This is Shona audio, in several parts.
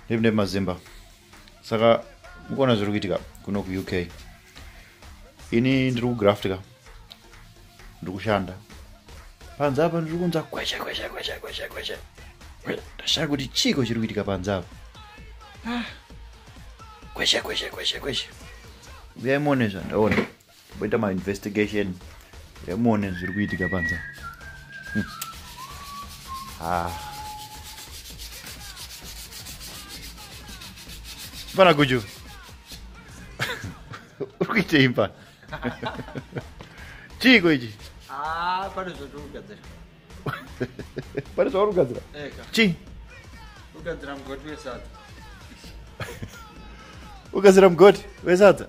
ndiri ndiri mazimba saka mukuona zviri kuitika kuno kuuk ini ndiri kugraftka ndiri kushanda panze apa ndiri kunza kweshe kweshe kweshe kweshe kweshe ndashaya kuti chiiko chiri kuitika panze apa ah. kweshe kweshe kweshe kweshe uyai muone zvandaona Boita ma investigation emuone zviri kuitika panza. Hmm. Ah. Pana Guju. Uri kuita imba. Chiiko ichi? Ah, pane zvatiri kugadzira. Pane zvauri kugadzira? Eka. Chi? Kugadzira mugoti wesadza. Ukazira mugoti wesadza?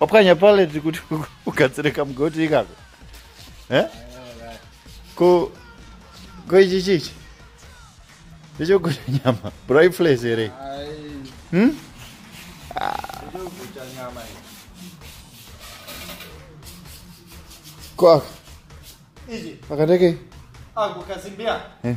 wapwanya paleti kuti ugadzire kamugoti ikako eh? ko ko ichi chichi ndechokuta nyama brai flas here hmm? ko aka akateke ako kazimbia eh.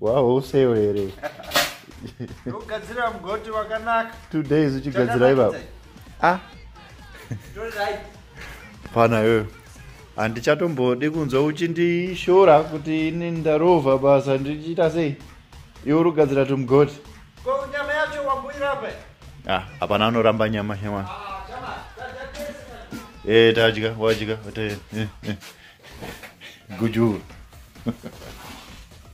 wahouseyo here ugadzirira mugoti wakanaka two days uchigadzira ivavo ah pana yoyo handichatombodi kunzwa uchindishora kuti ini ndarova basa ndichiita sei iwe uri kugadzira tumugoti nyama yacho wambuirapa ah, hapana anoramba nyama hewana ee eh, tadya wadya eh, eh, gujuru